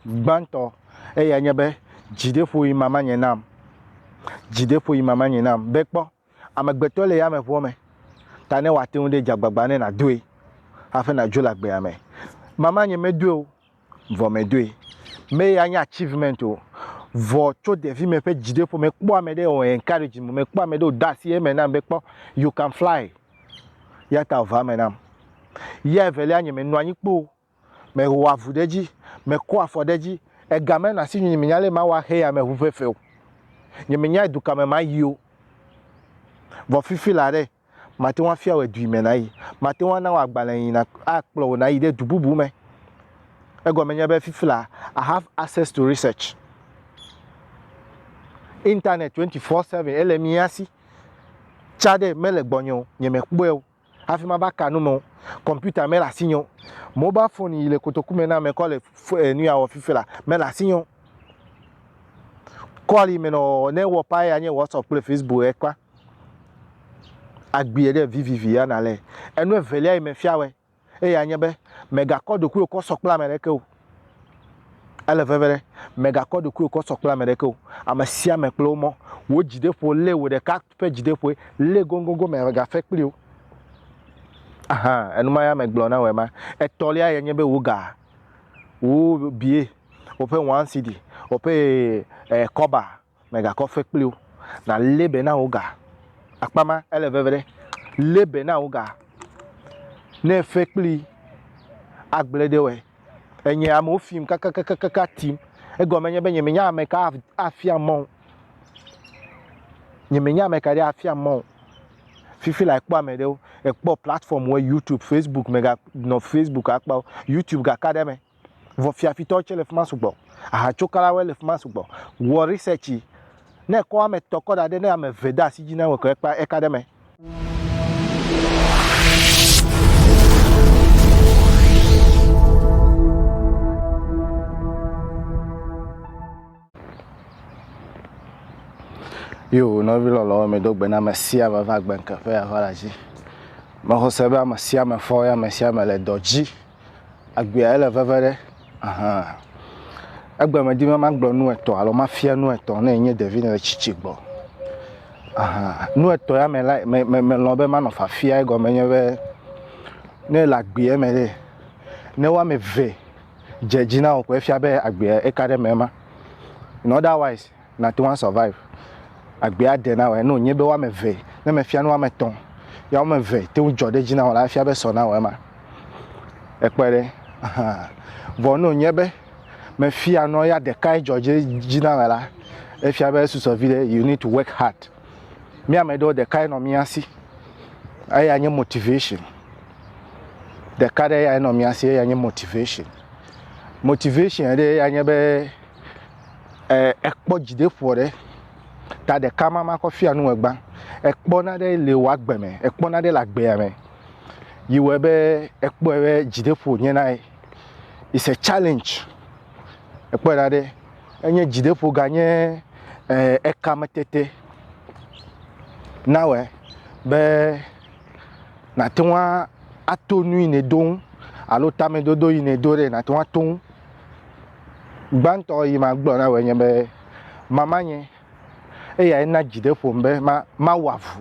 Gbãtɔ, eyae nye be, Dzideƒoɣi mama nye nam. Dzideƒoɣi mama nye nam. Be kpɔ, amegbetɔ le yameʋua me, ta ne wòate ŋu ɖe dze agbagba ne nàdoe hafi nàdzo le agbea me. Mama nye medoe o, vɔ medoe. Me ya nye achievement o, vɔ tso ɖevime ƒe dzideƒo mekpɔ ame ɖe o encourage me, mekpɔ ame ɖe o do asi eme nam be kpɔ, you can fly. Yata ʋua eme nam. Ye evelia nye menɔ anyi kpoo. Mehɔa avu ɖe edzi, mekɔa afɔ ɖe edzi, ega mena asi nyunye, menya ale mawɔ ahe ame ŋu ʋeʋẽ o. Nyemenyae dukɔ me mayi o. Vɔ fifi la ɖe, mate ŋu afia wòe dui me nàyi. Mate ŋu ana wò agbalẽ yi na akplɔ wò nàyi ɖe du bubu me. Egɔme nye be fifi la, I have access to research. Internet twenty four seven ele mía si. Tsã ɖe, mele gbɔnye o, nyemekpɔe o. hafi mava ka nu me o. Kɔmpiuta mele asinye o. Mobal foni yi le kotoku me na ame kɔ le nu ya wɔ fifi la mele asinye o. Kɔli me nɔ ne ewɔ paa ya nye WhatsApp kple Facebook ye kpa. Agbie ɖe vivivi ya na le. Enu evelia yi me fia wɛ eya nye be megakɔ ɖokuiwo kɔ sɔ kple ame ɖeke o. Ele veve ɖe, mègakɔ ɖokuiwò kɔ sɔ kple ame ɖeke o, ame sia ame kple wo mɔ. Wò dzideƒo lé wò ɖeka ƒe dzideƒoe, lée goŋgoŋgoŋ mègafe kpli o. Aha, enu ma ya megblɔ na wòe ma. Etɔ̃lia ye nye be wò ga, wò bie, woƒe wansidi, woƒe kɔba. Mègakɔ fe kpli wo, nàlé be na wò ga. Akpa ma, ele veve ɖe, lé be na wò ga. Ne fe kpli agblẽ ɖe wɔe, enye amewo fim kakakakaka tim. Egɔme nye be nyemenya ameka afia mɔ o. Nyemenya ameka ɖe afia mɔ o. Fifi la ekpɔ ame ɖewo, ekpɔ platform wɔ, YouTube, Facebook, mèganɔ Facebook akpa o. YouTube gaka ɖe eme. vɔ fiafitɔwo tsɛ le fi ma sugbɔ, ahatsokalawoe le fi ma sugbɔ. Wɔ research, ne èkɔ ame etɔ̃ kɔ da ɖi ne ame eve de asi dzi na wò ko eka ɖe eme. Yo, nɔvi lɔlɔwo, medo gbe na ame sia ame va gbe ŋke ƒe ava la dzi. Mexɔse be ame sia ame fɔ ye ame sia ame le dɔ dzi. egbea le veve ɖe ahan egbe me di be ma gblɔ nu etɔ alo ma fia nu etɔ ne enye ɖevi ne le tsitsi gbɔ ahan nu etɔ ya me la me me me lɔ be ma nɔ fafia egɔme nye be ne le agbea me ɖe ne wa me ve dze dzi na o ko efia be agbea eka ɖe me ma in otherwise nate ŋu a survive, agbea aɖe nawɔe, ne wònye be woame eve, ne mefia nu woame etɔ̃, ya woame eve te ŋu dzɔ ɖe edzi nawɔ la, efia be sɔ nawɔ ema. Èkpɔe ɖe? Ahan. Vɔ ne wònye be mefia nua ya ɖekae dzɔ ɖe edzi nawɔe la, efia be esusɔ viɖe, you need to work hard. Mía ame ɖewo ɖekae nɔ mía si, eyae nye motivation. Ɖeka ɖe yae nɔ mía si, eyae nye motivation. Motivation ɖe yae nye be, eh, ekpɔ dzideƒo ɖe ta ɖeka ma ma kɔ fia nu egba ekpɔ na ɖe le wɔ agbe me ekpɔ na ɖe le agbea me yi wɔ be ekpɔ be dzideƒo nye na ye is a challenge ekpɔ na ɖe enye dzideƒo ga nye eh, ekame tete na wɔ be nàte ŋu ato nu yi ne do ŋu alo tamedodo yi ne do ɖe nàte ŋu ato ŋu Gbãtɔ yi magblɔ na wòe nye be, Mama nye, eyae na dzi ɖe ƒom be ma, mawɔ avu,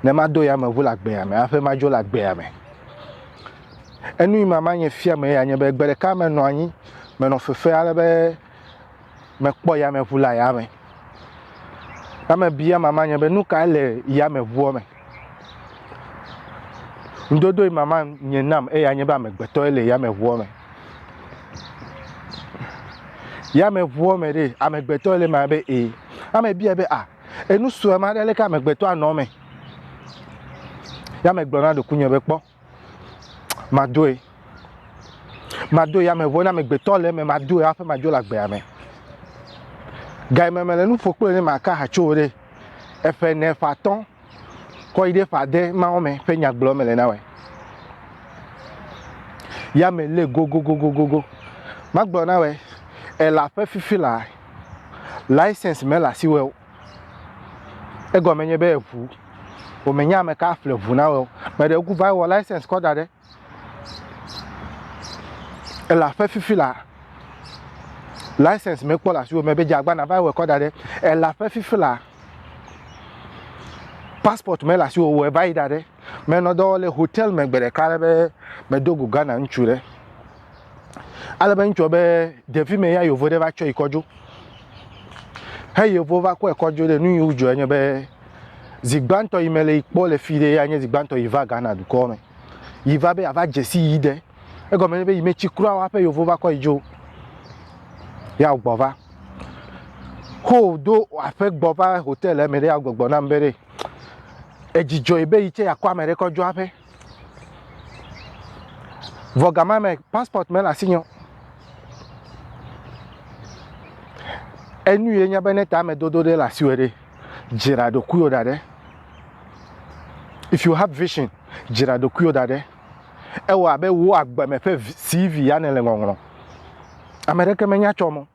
ne mado yameʋu le agbea me hafi madzo le agbea me. Enu yi mama nye fia me ya nye be, gbe ɖeka menɔ anyi, menɔ fefe ale be mekpɔ yameʋu le ayame. Ame bia mama nye be, Nukae le yameʋua me? Ŋdodo yi mama nye nam eya nye be amegbetɔe le yameʋua me. Yameʋua me ɖe amegbetɔe le ma be e. Ame bia be a enu sue ma ɖe leke amegbetɔa nɔ me. Yame gblɔ na ɖokuinye be kpɔ. madoe. Madoe ya me ŋuɔ ne amegbetɔ le eme, madoe hafi madzo le agbea me. Ga yi me mele nu ƒo kple ne maka ha tso ɖe eƒe ne ƒe atɔ̃ kɔ yi ɖe ƒe ade mawo me ƒe nyagblɔ mele na wɔe. Ya me le gogogogogogo. Magblɔ na wɔe ela ƒe fifi la license mele asiwɔe o. Egɔme nye be eŋu. Wòmenya ame ka aƒle ŋu na wò o. Me ɖe woku va wɔ license kɔ da ɖe elã ƒe fifi la, license mekpɔ le asiwò me be dze agbana va wɔe kɔ da ɖe elã ƒe fifi la, passport mele asiwò o wɔe va yi da ɖe. Menɔ dɔ wɔm le hotel me gbe ɖeka ale be medo go Ghana ŋutsu ɖe. Ale be ŋutsua be ɖevi me ya yevo ɖe va tsɔ yi kɔdzo. He yevo va kɔe kɔdzo ɖe nu yi wodzɔ enye be zi gbãtɔ yi me le yi kpɔ le fi ɖe ya nye zi gbãtɔ yi va Ghana dukɔ me. Yi va be yeava dzesi yi ɖe. Egɔme nye be yi metsi kura wa ƒe yevo va kɔ yi dzo. Ya gbɔ va. Ho do aƒe gbɔ va hotel me ɖe ya gbɔgbɔ nam be ɖe. Edzi dzɔe be yi tsɛ yeakɔ ame ɖe kɔ dzo aƒe. Vɔ gama me, passport mele asinye o. Enu ye nye be ne tamedodo ɖe le asiwò ɖe, dzra ɖokuiwò da ɖe. If you have vision, dzra ɖokuiwò da ɖe. Ewɔ abe wò agbeme ƒe CV ya nèle ŋɔŋlɔm. Ame ɖeke menya tsɔ mɔ.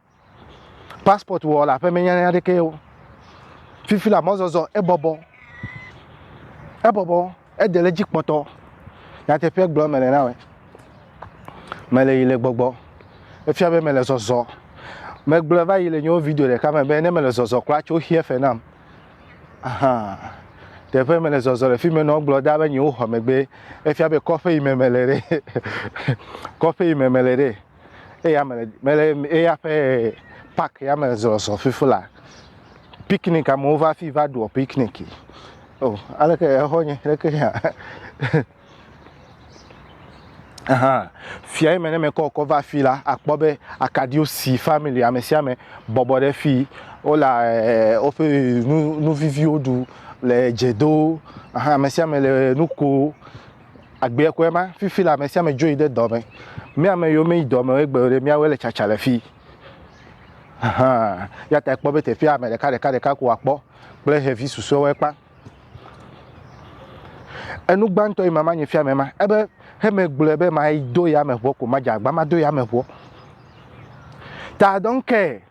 Passport wɔ le aƒe me nyanya ɖeke ye o. Fifi la mɔzɔzɔ ebɔbɔ. Ebɔbɔ ede le dzi kpɔtɔ. Nyateƒe gblɔ mele na wɔ. Mele yi le gbɔgbɔ. Efia be mele zɔzɔ. Megblɔ va yi le nyewo video ɖeka me be ne mele zɔzɔ kura tso xia fe nam. Ahan. Teƒe mele zɔzɔ le fi me nɔ gblɔ da be nyewo xɔ megbe. Efia be kɔƒe yi me mele ɖe. kɔƒe yi me mele ɖe. eya mele mele eya ƒe pak ya me zɔzɔ fifi la piknik amewo va fi va ɖua piknik o oh, aleke exɔ nye aleke ya ahan fia yi me ne mekɔ kɔ va fi la akpɔ be akaɖiwo si family ame sia ame bɔbɔ ɖe fi wole eh, woƒe nu nu viviwo ɖu le dze do ahan ame sia ame le nu ko. Agbeɛ kɔe ma, fifi la ame sia ame dzo yi ɖe dɔ me. Mía ame yiwo meyi dɔ me o egbe o ɖe, míawoe le tsatsa le fii. Ahan, ya ta ekpɔ be teƒea ame ɖeka ɖeka ɖeka ko akpɔ kple xevi susɔewo ekpa. Enu gbãtɔ yi mama nye fia me ma, ebe heme gblɔe be ma do yame ʋɔ ko, madze agba mado yame ʋɔ. Ta dɔn kee.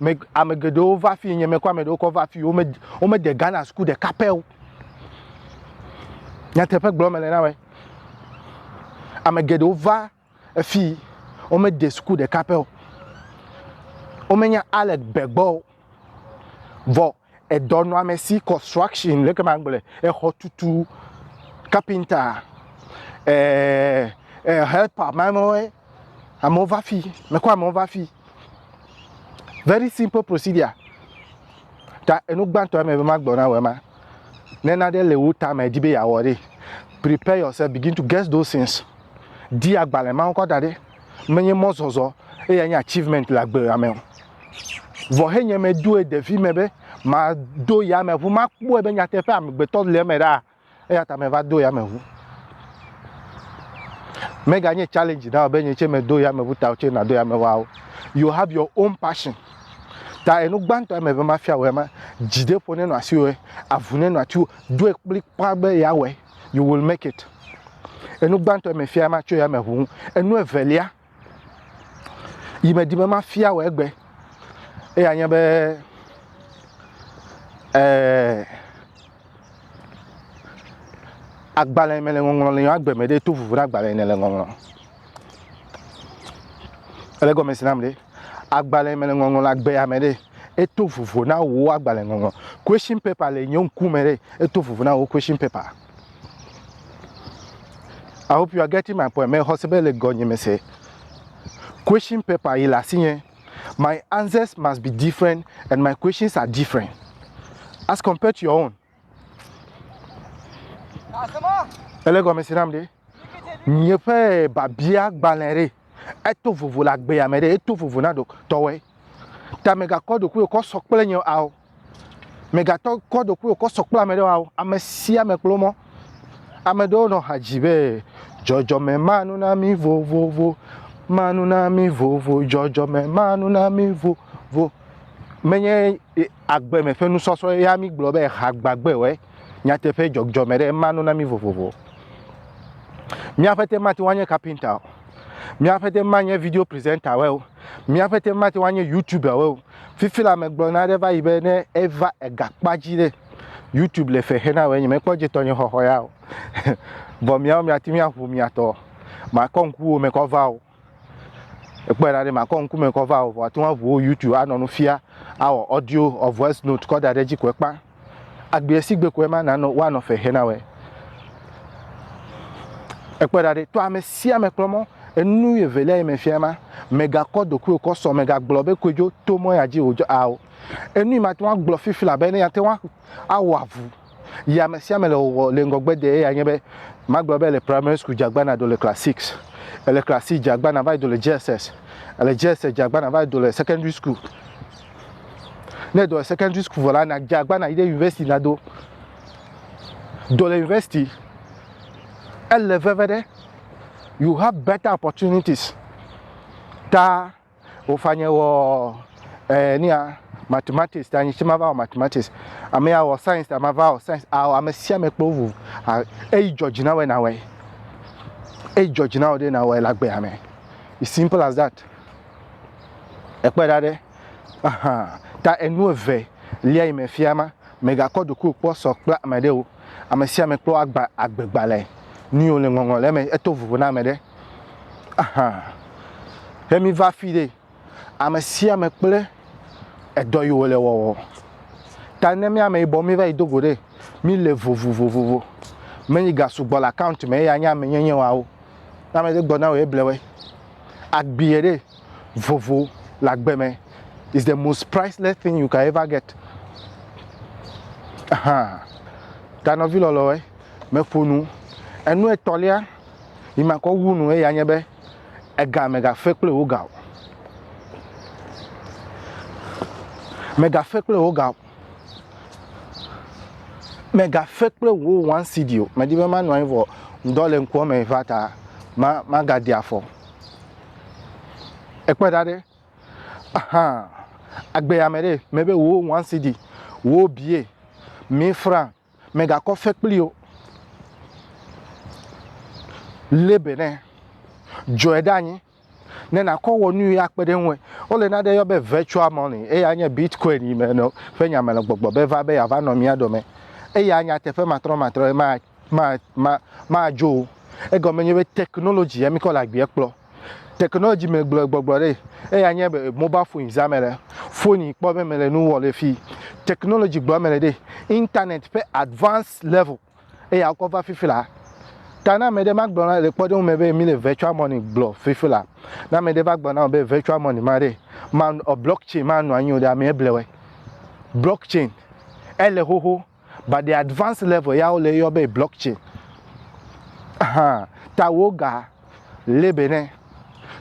Me, ame geɖewo va fi nye mekɔ ame ɖewo kɔ va fi wome wome de Ghana suku ɖeka pɛ o. Nyateƒe gblɔ mele na wɔ. Ame geɖewo va fi wome de suku ɖeka pɛ o. Womenya Alec Begbɔ o. Vɔ edɔnɔamesi, construction, leke magblɔe, exɔtutu, kapinta, e, e, helper, mamɔe, amewo va fi, mekɔ amewo va fi. Very simple procedure. Ta enu gbãtɔ eme be magblɔ na wɔ ema. Ne naɖe le wo tame di be yeawɔ ɖe, prepare yourself, begin to get those things. Di agbalẽ mawo kɔ da ɖe. menye mɔzɔzɔ eya nye achievement le agbe ame o. Vɔ he nye me doe ɖevi me be ma do ya me ʋu, ma kpɔe be nyateƒe amegbetɔ le eme ɖa, eya ta me va do ya me ʋu. Mega nye challenge na be nye tse me do ya me ʋu ta tse na do ya me ʋua o. You have your own passion. Ta enu gbãtɔ ya me be ma fia wɔ ya ma, dzi ɖe ƒo ne nɔ asi wɔ ya, avu ne nɔ ati wɔ, doe kplikpã be ya wɔ ya. you will make it. Enu gbãtɔ yi mefia ma tso ya me ʋu. Enu evelia yi medi be mafia wɔ egbe eya nye be eh, agbalẽ me le ŋɔŋlɔ le agbe me ɖe to vuvu na agbalẽ ne le ŋɔŋlɔ. Ele gɔme si nam ɖe. agbalẽ me le ŋɔŋlɔ le agbea me ɖe, eto vovo na wò agbalẽ ŋɔŋlɔ. Question paper le nye ŋku me ɖe, eto vovo na wò question paper. I hope you are getting my point. Mexɔ se be le gɔ nye me se. Question paper yi le asi nye. My answers must be different and my questions are different as compared to your own. Ele gɔme si nam ɖe. Nye ƒe biabia gbalẽ ɖe. Eto vovo le agbea me ɖe. Eto vovo na ɖo tɔwɔe. Ta me ga kɔ ɖokuiwò kɔ sɔ kple nye ao. Me ga tɔ kɔ ɖokuiwò kɔ sɔ kple ame ɖewo ao. Ame sia ame kplɔ mɔ. Ame ɖewo nɔ ha dzi be, dzɔdzɔme ma nu na mi vovovo, ma nu na mi vovo, dzɔdzɔme ma nu na mi vovo. Menye e. Agbe me ƒe nusɔsrɔ̃ ya mígblɔ be ha gbagbewoe nyateƒe dzɔdzɔme ɖe ema no na mí vovovo. Mía ƒete mate ŋu anye kapinta o, mía ƒete manye video presentawoe o, mía ƒete mate ŋu anye youtubewoe o. Fifi la megblɔ na aɖe va yi be ne eva egakpa dzi ɖe youtube le fe xe na wòe nyemekpɔ dze tɔnye xɔxɔ ya o. Vɔ miawo miate ŋu aʋu mia tɔ. Makɔ ŋku wo me kɔ va o. Ekpɔe ɖa ɖe makɔ ŋkume kɔ va o, vɔ ate ŋu aʋu wo YouTube anɔ nu fia, awɔ audio ɔ voice note kɔ da ɖe edzi koe kpa. Agbeɛ si gbe koe ma nanɔ woanɔ fe xe na wɛ. Ekpɔe ɖa ɖe tɔ ame sia ame kplɔ mɔ enu evelia yi me fia ma, mègakɔ ɖokuiwò kɔ sɔ, mègagblɔ be koedzo to mɔ ya dzi o, dzo ao. Enu yi mate ŋu agblɔ fifi labe ne ate ŋu awɔ avu. Yi ame sia ame le wɔwɔ le ŋgɔgbe de eya nye be magblɔ be le primary school dze agbana do le class six, ele class six dze agbana va yi do le JSS, ele JSS dze agbana va yi do le secondary school. Ne do le secondary school vɔ la na dze agbana yi ɖe university na do. Do le university ele veve ɖe you have better opportunities ta Wofanye wɔ eh, nia mathematics ta nyiche mava wɔ mathematics ame ya wɔ science ta mava wɔ science awɔ ame sia ame kple wo eyi jɔdzi na wɔe na wɔe eyi jɔdzi na wɔ ɖe na wɔe le agbea me it's simple as that ekpɔe ɖa ɖe ahan ta enu eve lia yi me fia ma megakɔ ɖokuiwò kpɔ sɔ kple ame ɖewo ame sia ame kple agba agbegbalẽ nuyiwo le ŋɔŋlɔ le eme eto vovo na ame ɖe Ahan. Ne mi va fi ɖe, ame sia ame kple edɔ yi wòle wɔwɔ. Ta ne mi ame yibɔ mi va yi do go ɖe, mi le vovovovovo. Me yi ga sugbɔ le account me eya nye ame nyenye wawo. Ne ame ɖe gbɔ na wò ye blewɔe. Agbiɛ ɖe. vovo le agbe me is the most priceless thing you can ever get ahan ta nɔvi lɔlɔe meƒo nu enu etɔ̃lia yi makɔ wu nu eya nye be ega megafe kple wo ga o megafe kple wo ga o megafe kple wo one cd o medi be manɔ anyi vɔ ŋdɔ le ŋkua me va ta ma magadi afɔ ekpe ɖa ɖe ahan agbeya me ɖe mebe wò wan sidi wò bie mi fran megakɔ fe kpli o le be ne dzɔe ɖe anyi ne nakɔ wɔ nu yi akpe ɖe ŋu wole na ɖe yɔ be virtual money eya nye bitcoin yi me ƒe nya me le gbɔgbɔ be va be yeava nɔ mía dome eya nyateƒe matrɔmatrɔ ye ma ma, ma, madzo o. Egɔme nye be technology ya mikɔ le agbea kplɔ. Technology me gblɔe gbɔgblɔ ɖe, eya nye be mobile phones ya mele phone yi kpɔ be mele nu wɔ le fi. Technology gblɔ mele ɖe, internet ƒe advanced level eya wokɔ va fifi la. Ta ne ame ɖe ma gblɔ na le kpɔɖeŋu me be mi le virtual money gblɔ fifi la, ne ame ɖe va gblɔ na wò be virtual money ma ɖe, ma, blockchain manɔ anyi o ɖe, amea blewe. Blockchain ele xoxo. But the advanced level ya wole yɔ be blockchain. Ahan, ta woga lé be ne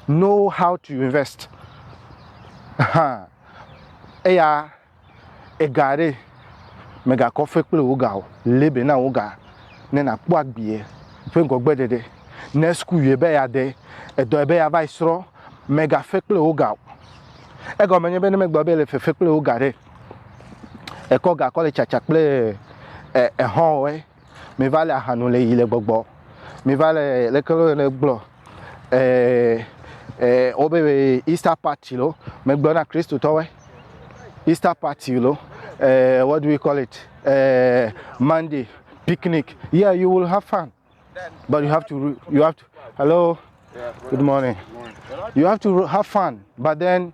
know how to invest. Ahan, eya ega ɖe megakɔ fe kple woga o. Lé be na woga ne nakpɔ agbie ƒe ŋgɔgbe ɖeɖe. Ne school yue be ya de, edɔ yue be ya va yi srɔ, mega fe kple woga o. Egɔme nye be ne megblɔ be le fefe kple woga ɖe, Ekɔ ga kɔ le tsatsa kple e ehɔ̃ wɔe. Mi va le aha nu le yi le gbɔgbɔ. Mi va le leke wo yɔnɛ gblɔ e e wobe be Easter party lo megblɔ na Kristotɔwoe. Easter party lo e what do we call it e Monday picnic yeah you will have fun. But you have to, you have to, hello, good morning. You have to have fun, but then,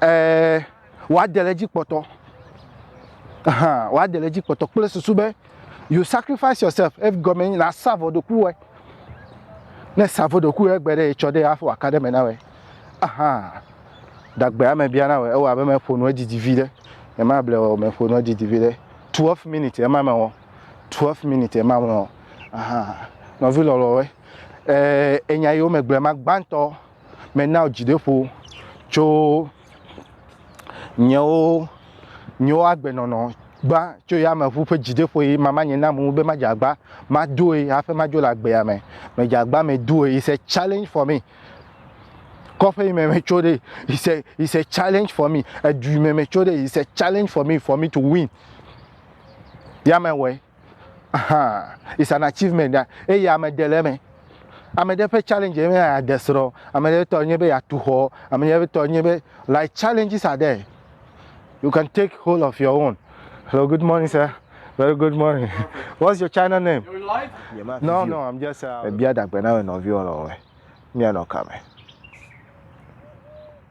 uh, wàá dẹ̀lẹ́ jí pọ̀tọ́. Wàá dẹ̀lẹ́ jí pọ̀tọ́ kple susu be you sacrifice yourself if gɔmɛ nyi na sa vɔ ɖoku wɛ. Ne sa vɔ ɖoku wɛ gbe ɖe etsɔ ɖe afɔ aka ɖe me na wɛ. Aha, dagbe ame bia na wɛ ewɔ abe mɛ ƒo nu edidi vi ɖe. Ema ble wɔ mɛ ƒo nu edidi vi ɖe. Twelve minutes ema mɛ wɔ. 12 minutes ema me o ahan nɔvi lɔlɔwe eh, enya yiwo megblẽ ma gbãtɔ mena wò dzideƒo tso nyewo nyewo agbenɔnɔ gbã tso yameʋu ƒe dzideƒo yi mama nye nam be madze agba madoe hafi madzo le agbea me medze agba medoe is a challenge for me kɔƒe yi me metso ɖe is a is a challenge for me edu yi me metso ɖe is a challenge for me for me to win yame wɔe ahan is an achievement ya eye ame ɖe le eme ame ɖe ƒe challenge ye nye ade srɔ̃ ame ɖe tɔ nye be yeatu xɔ ame ɖe tɔ nye be like challenges are there you can take hold of your own hello good morning sir very good morning what's your channel name no no i'm just uh, bia dagbe na me nɔviwo lɔ wɛ mia nɔ kame